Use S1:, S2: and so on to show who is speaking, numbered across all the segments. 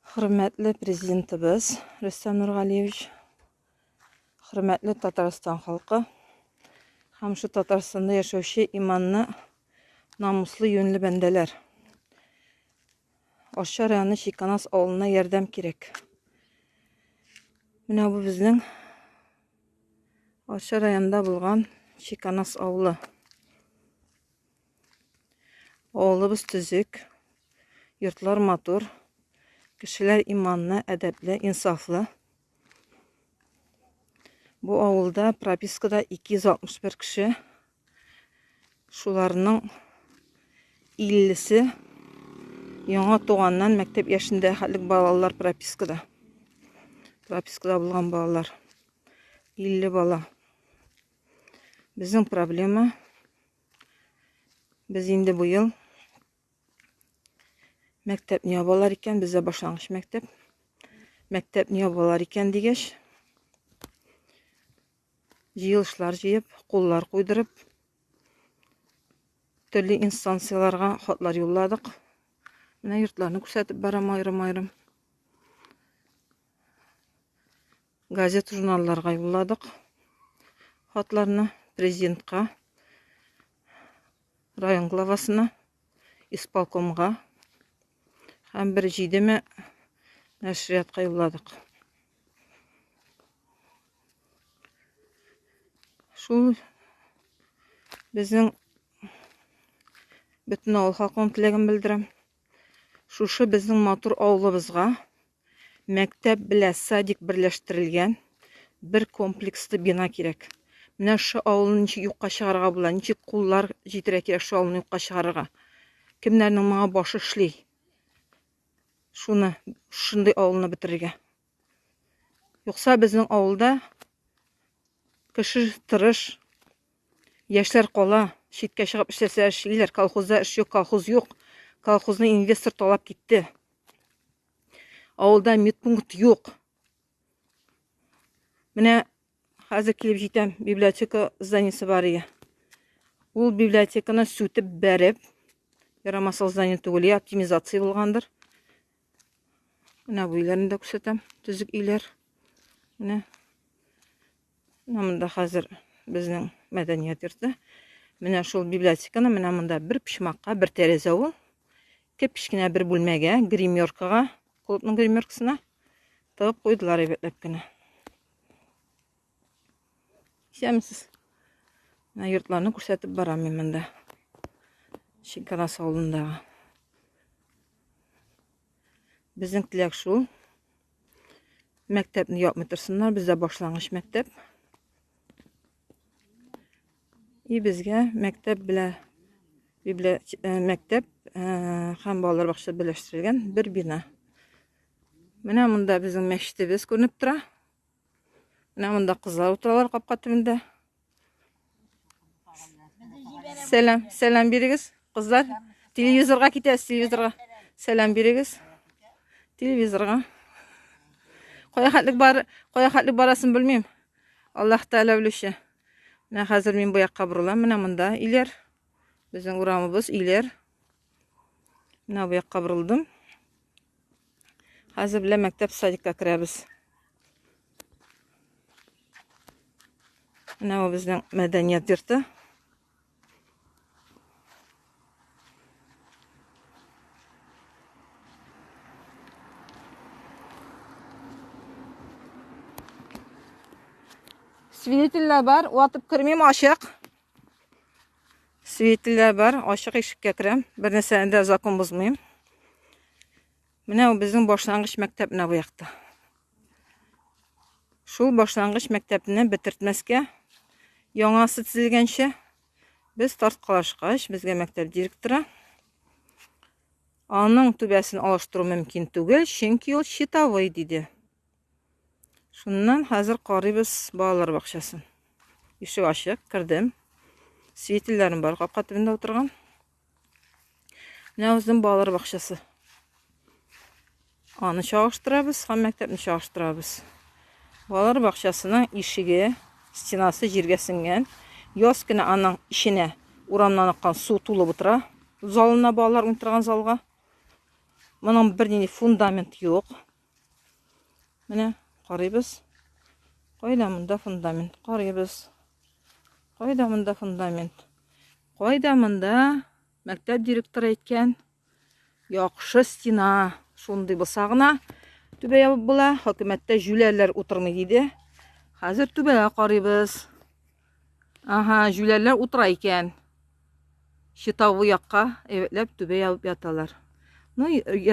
S1: Хөрмәтле президентыбыз Рөстәм Нургалиевич, хөрмәтле Татарстан халкы һәм шу Татарстанда яшәүче иманны намуслы юньле бәндәләр. Ашча районы Чиканас авылына ярдәм кирәк. Менә бу безнең Ашча районында булган Чиканас авылы. Авылыбыз төзек, йортлар матур, кешеләр иманлы, әдәпле, инсафлы. Бу авылда пропискада 261 кеше. Шуларның 50-се яңа туганнан мәктәп яшендә хәтлек балалар пропискада. Пропискада булган балалар 50 бала. Безнең проблема Без инде бу ел мәктәпне ябалар икән, бездә башлангыч мәктәп. Мәктәпне ябалар икән дигәч, җыелышлар җыеп, куллар куйдырып, төрле инстанцияләргә хатлар юлладык. Менә йортларны күрсәтеп барам аерым-аерым. Газет-журналларга юлладык хатларны президентка, район главасына, исполкомга һәм бер җидеме нәшриятка юлладык. Шул безнең бөтен авыл халкының теләген белдерәм. Шушы безнең матур авылыбызга Мәктәп белә садик берләштерелгән бер комплекслы бина кирәк. Менә шо авылны ничек юкка чыгарга була, ничек куллар җитерә кирәк шо авылны юкка чыгарырга. Кемнәрнең моңа башы эшли? Шуны, шундый авылны бетерергә. Юкса безнең авылда кеше тырыш, яшьләр кала, читкә чыгып эшләсә эшлиләр, колхозда эш юк, колхоз юк. Колхозны инвестор талап китте. Авылда медпункт юк. Менә хәзер килеп җитәм, библиотека зданиесе бар иде. Ул библиотеканы сүтеп бәреп, ярамасыл здание түгел, я оптимизация булгандыр. Менә бу өйләрне дә күрсәтәм, төзек өйләр. Менә Менә монда хәзер безнең мәдәният йорты. Менә шул библиотеканы менә монда бер почмакка, бер тәрәзә ул. Кепечкенә бер бүлмәгә, гримеркага, клубның гримеркасына тыгып куйдылар әйбәтләп кенә. Исәмсез. Менә йортларны күрсәтеп барам мин монда. Шикарас авылындагы. Безнең теләк шул. Мәктәпне япмый торсыннар, бездә башлангыч мәктәп. И безгә мәктәп белә библия э, мәктәп э, һәм балалар бакчасы берләштерелгән бер бина. Менә монда безнең мәчетебез күренеп тора. Менә монда кызлар утыралар капка төбендә. Сәлам, сәлам бирегез, кызлар. Телевизорга китәс, телевизорга. Сәлам бирегез. Телевизорга. Кая хәтлек бар, кая хәтлек барасын белмим. Аллаһ Тәгалә белүче. Менә хәзер мин бу якка борылам, менә монда иләр. Безнең урамыбыз иләр. Менә бу якка борылдым. Хәзер белән мәктәп садикка керәбез. Менә бу безнең мәдәният йорты. Свидетельләр бар, ватып кермим, ачык. Светлләр бар, ачык ишеккә керәм. Бер нәрсәне дә закон бозмыйм. Менә ул безнең башлангыч мәктәп менә бу якта. Шул башлангыч мәктәпне бетертмәскә, яңасы төзелгәнче без тарткалашкач, безгә мәктәп директоры аның түбәсен алыштыру мөмкин түгел, чөнки ул читовый диде. Шуннан хәзер карыйбыз балалар бакчасын. Ишек ачык, кердем. Светильләрем бар капка төбендә утырган. Менә үзем балалар бакчасы. Аны чагыштырабыз һәм мәктәпне чагыштырабыз. Балалар бакчасының ишеге, стенасы җиргә сеңгән. Яз көне аның эченә урамнан аккан су тулып утыра. Залына балалар уйнатырган залга. Моның бернинди фундамент юк. Менә карыйбыз. Кайда монда фундамент? Карыйбыз. Кайда монда фундамент? Кайда монда мәктәп директоры әйткән яхшы стена, шундый булса гына түбә ябып була, хөкүмәттә җүләрләр утырмый диде. Хәзер түбәгә карыйбыз. Ага, җүләрләр утыра икән. Читавы якка әйбәтләп түбә ябып яталар. Ну,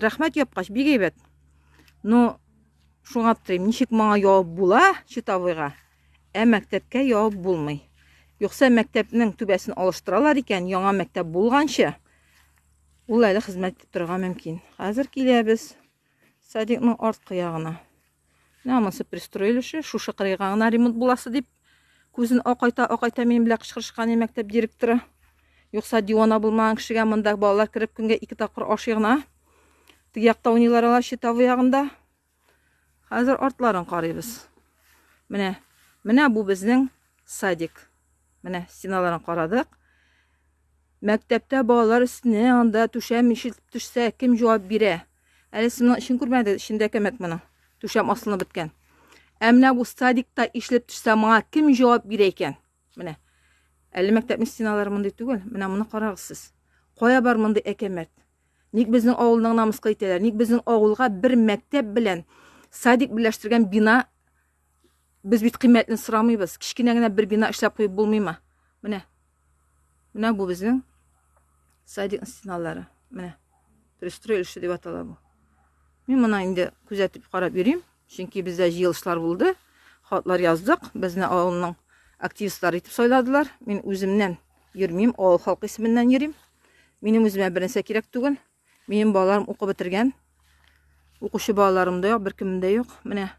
S1: рәхмәт япкач, бик әйбәт. Ну, шуңа аптырыйм, ничек моңа явып була читавыйга, ә мәктәпкә явып булмый. Юкса мәктәпнең түбәсен алыштыралар икән, яңа мәктәп булганчы, ул әле хезмәт итеп торырга мөмкин. Хәзер киләбез Садикның арткы ягына. Менә амасы пристроили шушы, шушы кырыйга гына ремонт буласы дип, күзен акайта, акайта минем белән кычкырышкан мәктәп директоры. Юкса дивана булмаган кешегә монда балалар кереп көнгә ике тапкыр ашый гына. Теге якта уйныйлар алар читавы ягында. Хәзер артларын карыйбыз. Менә, менә бу безнең садик. Менә стеналарын карадык. Мәктәптә балалар өстенә анда түшәм ишелеп төшсә, кем җавап бирә? Әле сымның эчен күрмәдегез, эчендә кәмәк моның. Түшәм асылынып беткән. Ә менә бу садикта ишлеп төшсә, моңа кем җавап бирә икән? Менә. Әле мәктәпнең стеналары мондый түгел. Менә моны карагыз сез. Кая бар мондый әкәмәт? Ник безнең авылның намыска итәләр? Ник безнең авылга бер мәктәп белән садик берләштергән бина Без бит кыйммәтне сорамыйбыз. Кечкенә генә бер бина эшләп куеп булмыймы? Менә. Менә бу безнең садик стеналары. Менә. Пристрой эше дип атала бу. Мин моны инде күзәтеп карап йөрим. Чөнки бездә җыелышлар булды. Хатлар яздык. Безне авылның активистлары итеп сайладылар. Мин үземнән йөрмим, авыл халкы исеменнән йөрим. Минем үземә бернәрсә кирәк түгел. Минем балаларым укып бетергән. Укучы балаларым да юк, беркемем дә юк. Менә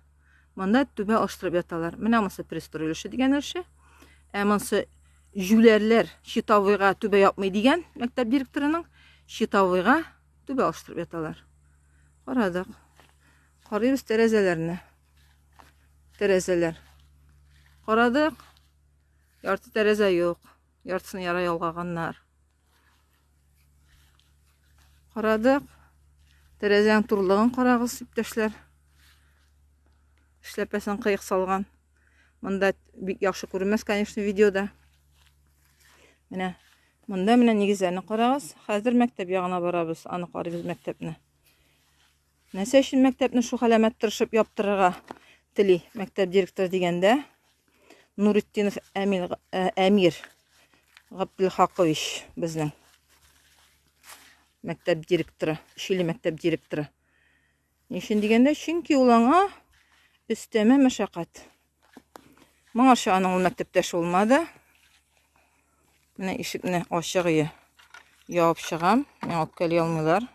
S1: монда түбә алыштырып яталар. Менә монысы пристрой өлеше дигән өлеше. Ә монысы жүләрләр щитовыйга түбә япмый дигән мәктәп директорының щитовыйга түбә алыштырып яталар. Карадык. Карыйбыз тәрәзәләрне. Тәрәзәләр. Карадык. Ярты тәрәзә юк. Яртысын яра ялгаганнар. Карадык. Тәрәзәң турлыгын карагыз, иптәшләр. Эшләпәсен кыек салган. Монда бик яхшы күрмәс, конечно, видеода. Менә монда менә нигезләрне карагыз. Хәзер мәктәп ягына барабыз, аны карыйбыз мәктәпне. Нәрсә өчен мәктәпне шул хәләмәт тырышып яптырырга тели мәктәп директоры дигәндә, Нуритдинов Әмил, ә, Әмир Габделхакович безнең мәктәп директоры, Шиле мәктәп директоры. Ни өчен дигәндә, чөнки ул аңа өстәмә мәшәкать. Моңарчы аның ул мәктәптәш булмады. Менә ишекне ачыгые ябып чыгам. Миңа үпкәли алмыйлар.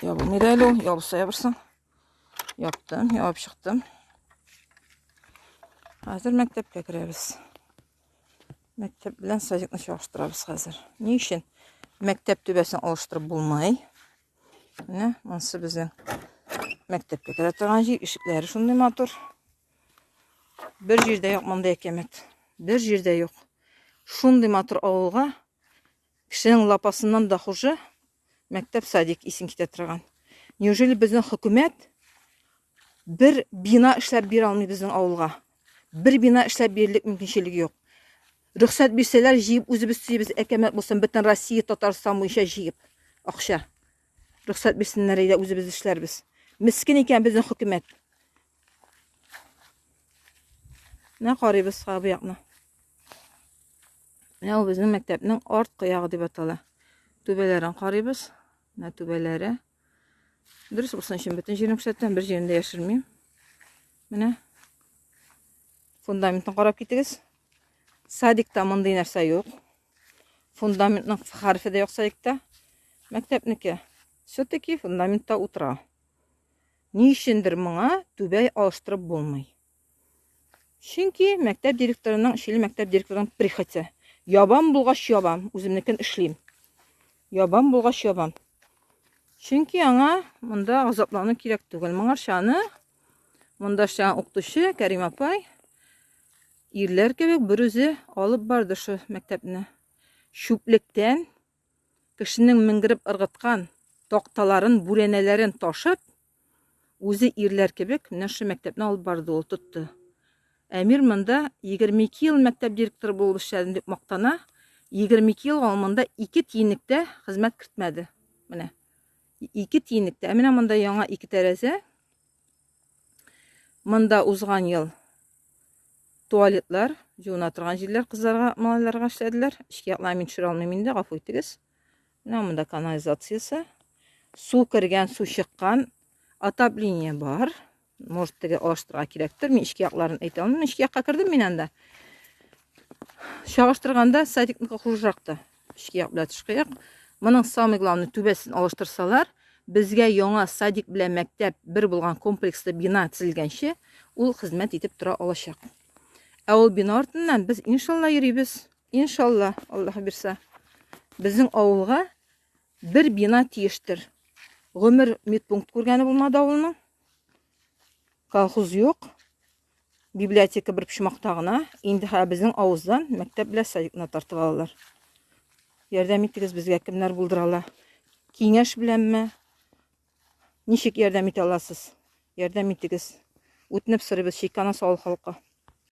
S1: Ябылмый да әле ул. Ябылса ябырсын. Яптым, ябып чыктым. Хәзер мәктәпкә керәбез. Мәктәп белән садикны чагыштырабыз хәзер. Ни өчен? Мәктәп түбәсен алыштырып булмай. Менә монсы безнең мәктәпкә керә торган җир, ишекләре шундый матур. Бер җирдә юк мондый әкәмәт. Бер җирдә юк. Шундый матур авылга кешенең лапасыннан да хуже мәктәп садик исен китә торган. Неужели безнең хөкүмәт бер бина эшләп бирә алмый безнең авылга? Бер бина эшләп бирерлек мөмкинчелеге юк. Рөхсәт бирсәләр, җыеп үзебез төзибез, әкәмәт булсын, бөтен Россия, Татарстан буенча җыеп акча. Рөхсәт бирсеннәр, әйдә үзебез эшләрбез. Мескин икән безнең хөкүмәт. Менә карыйбыз сага бу якны. Менә ул безнең мәктәпнең арткы ягы дип атала. Түбәләрен карыйбыз. Менә түбәләре. Дөрес булсын өчен бөтен җирен күрсәтәм, бер җирен дә яшермим. Менә фундаментын карап китегез. Садикта мондый нәрсә юк. Фундаментның хәрефе дә юк садикта. Мәктәпнеке все-таки фундаментта утыра. Ни өчендер моңа түбә алыштырып булмый. Чөнки мәктәп директорының, Шиле мәктәп директорының прихоте. Ябам булгач ябам, үземнекен эшлим. Ябам булгач ябам. Чөнки аңа монда азаплану кирәк түгел. Моңарча аны монда эшләгән укытучы Кәрим апай ирләр кебек берүзе алып барды шул мәктәпне. Чүплектән Кешенең менгереп ыргыткан такталарын, бүрәнәләрен ташып, үзе ирләр кебек менә шушы мәктәпне алып барды ул, тотты. Әмир монда 22 ел мәктәп директоры булып эшләдем дип мактана. 22 ел ул монда ике тиенлектә хезмәт кертмәде. Менә. Ике тиенлектә. Ә менә монда яңа ике тәрәзә. Монда узган ел туалетлар, җуына торган җирләр кызларга, малайларга эшләделәр. Эшкә яклар мин төшерә алмыйм инде, гафу итегез. Менә монда канализациясе. Су кергән, су чыккан. Отопление бар. Может, теге алыштырырга кирәктер. Мин эшкә якларын әйтә алмыйм. Эшкә якка кердем мин анда. Чагыштырганда садикныкы хужракта. Тышкыяк белән тышкыяк. Моның самый главный түбәсен алыштырсалар, безгә яңа садик белән мәктәп бер булган комплекслы бина төзелгәнче ул хезмәт итеп тора алачак. Ә ул бина артыннан без иншалла йөрибез. Иншалла, Аллаһ бирсә. Безнең авылга бер бина тиештер. Гомер медпункт күргәне булмады авылның. Колхоз юк. библиотека бер почмакта гына. Инде хә безнең авыздан мәктәп белән садикны тартып алалар. Ярдәм итегез безгә кемнәр булдыра ала? Киңәш беләнме? Ничек ярдәм итә аласыз? Ярдәм итегез. Үтенеп сорыйбыз Чикана савыл халкы.